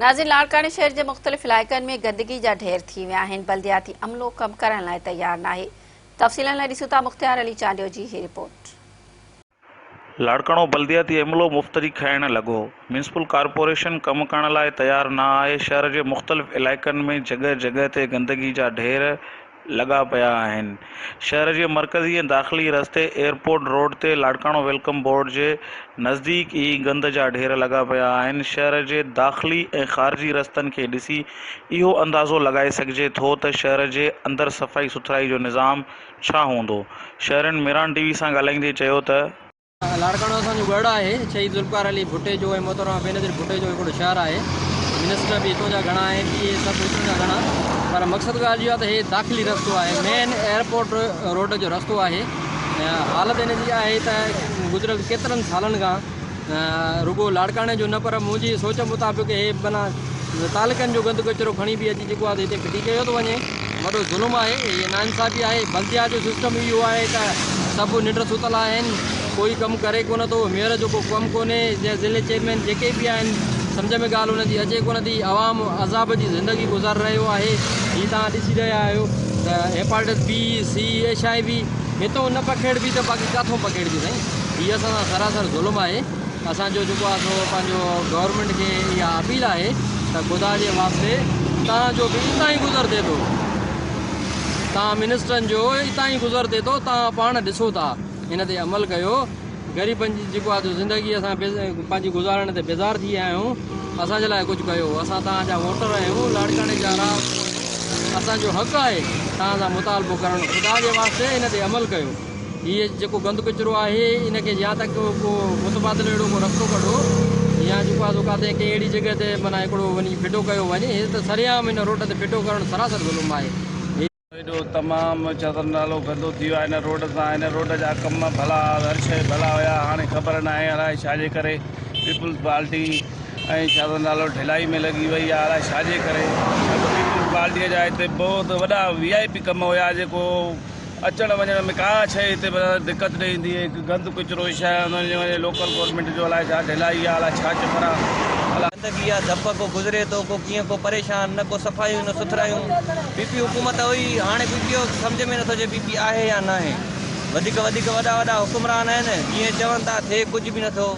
ناظرين لاڙڪاڻي شهر جي مختلف علائقن ۾ گندگي جا ڍير ٿي ويا آهن بلدياتي عملو ڪم ڪرڻ لاء تيار ناهي تفصيلن لاء ڏسون ٿا مختيار علي چانڊيو جي هي رپورٽ. لاڙڪاڻو بلدياتي عملو مفتري کائڻ لڳو ميونسپل ڪارپوريشن ڪم ڪرڻ لاء تيار نه آهي شهر جي مختلف علائقن ۾ جڳهه جڳهه تي گندگي جا ڍير لڳا پيا آهن. شهر جي مرڪزي ۽ داخلي رستي ايئرپورٽ روڊ تي لاڙڪاڻو ويلڪم بورڊ جي نزديڪ ئي گند جا ڍير لڳا پيا آهن. شهر جي داخلي ۽ خارجي رستن کي ڏسي اهو اندازو لڳائي سگهجي ٿو ته شهر جي اندر صفائي سٿرائي جو نظام ڇا هوندو. شهرين ميران ٽي وي سان ڳالهائيندي چيو ته. لاڙڪاڻو اسان جو ڳڙهه آهي. شهيد ذوالفقار علي ڀٽيجو ۽ محترمه بينظير ڀٽيجو جو هڪڙو شهر آهي. منسٽر به هتون جا گهڻا آهن اهي سڀ هتون جا گهڻا پر مقصد ڳالهه اهو آهي ته هي داخلي رستو آهي مين ايئرپورٽ روڊ جو رستو آهي حالت ان جي آهي ته گذريل ڪيترن سالن کان رڳو لاڙڪاڻي جو نه پر منهنجي سوچ مطابق هي بنا تعلقن جو گند ڪچرو کڻي به اچي جيڪو آهي هتي ڦٽي ڪيو ٿو وڃي وڏو ظلم آهي هي ناانصافي آهي بلديا جو سسٽم ئي اهو آهي ته سڀ ننڊ ستل آهن ڪوئي ڪم ڪري ڪونه ٿو ميئر جو ڪو ڪم ڪونهي جنهن ضلعي چيئرمين جيڪي به آهن سمجهه ۾ ڳالهه ان جي اچي ڪونه ٿي عوام عذاب جي زندگي گذار رهيو آهي هي توهان ڏسي رهيا آهيو ته hepatitis B C H I V هتو نه پکيڙبي ته باقي ڪاٿو پکيڙبي سائين هي اسان سان سراسر ظلم آهي اسان جو جيڪو آ سو پنهنجو گورنمينٽ کي اها اپيل آهي ته خدا جي واسطي توهان جو به اتان ئي گذر ٿئي ٿو توهان منسٽرن جو اتان ئي گذر ٿئي ٿو توهان پاڻ ڏسو ٿا ان تي عمل ڪيو غريبن جي جيڪو آ سو زندگي اسان پنهنجي گذارڻ تي بيزار ٿي ويا آهيون اسان جي لاء ڪجهه ڪيو اسان توهان جا ووٽر آهيون لاڙڪاڻي جا اسان جو حق آهي توهان سان مطالبو ڪرڻ خدا جي واسطي ان تي عمل ڪيو هي جيڪو گند ڪچرو آهي ان کي يا ته ڪو ڪو متبادل اهڙو ڪو رستو ڪڍو يا جيڪو آهي سو ڪاٿي ڪنهن اهڙي جڳهه تي معنيٰ هڪڙو وڃي ڦٽو ڪيو وڃي هي ته سرعام هن روڊ تي ڦٽو ڪرڻ سراسر ظلم آهي. ايڏو تمام چدر نالو گندو ٿي ويو آهي هن روڊ سان هن روڊ جا ڪم ڀلا هر شيء ڀلا هيا هاڻي خبر ناهي الاء ڇا جي ڪري پيپلز پارٽي ۽ چدر نالو ڍلائي ۾ لڳي وئي آهي الاء ڇا جي ڪري نه ته پيپلز پارٽي جا هتي بهت وڏا وي آء پي ڪم هيا جيڪو اچڻ وڃڻ ۾ ڪا شيء هتي دقت نه ايندي هڪ گند ڪچرو جي شاهه هوندو آهي جنهن لوڪل گورنمينٽ جو الائي ڇا ڍلائي آهي الائي ڇا چڪر آهي. گندگي آهي ڌپ ڪو گذري ٿو ڪو ڪيئن ڪو پريشان نه ڪو صفايون نه سٿرايون پي پي حڪومت هئي هاڻي پي پي او سمجهه ۾ نٿو اچي پي پي آهي يا ناهي وڌيڪ وڌيڪ وڏا وڏا حڪمران آهن جيئن چون ٿا ٿئي ڪجهه به نٿو.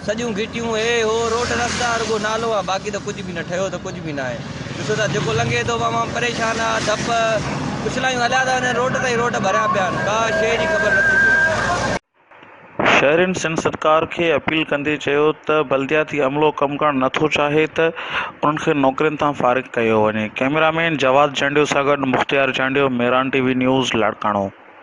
سڄيون گهٽيون هي هو روڊ رستا رڳو نالو آ باقي ته ڪجهه به نه ٺهيو ته ڪجهه به ناهي ڏسو ٿا جيڪو لنگهي ٿو عوام پريشان آ ڌپ اڇلايون هليا ٿا وڃن روڊ تي ئي روڊ ڀريا پيا آهن ڪا شيء جي خبر نٿي پئي. شهرين سنڌ سرڪار کي اپيل ڪندي چيو ته بلدياتي عملو ڪم ڪرڻ نٿو چاهي ته انهن کي نوڪرين تان فارغ ڪيو وڃي ڪئميرا مين جواد جانڊيو سان گڏ Mukhtiar Jandio Miran T V news Larkana.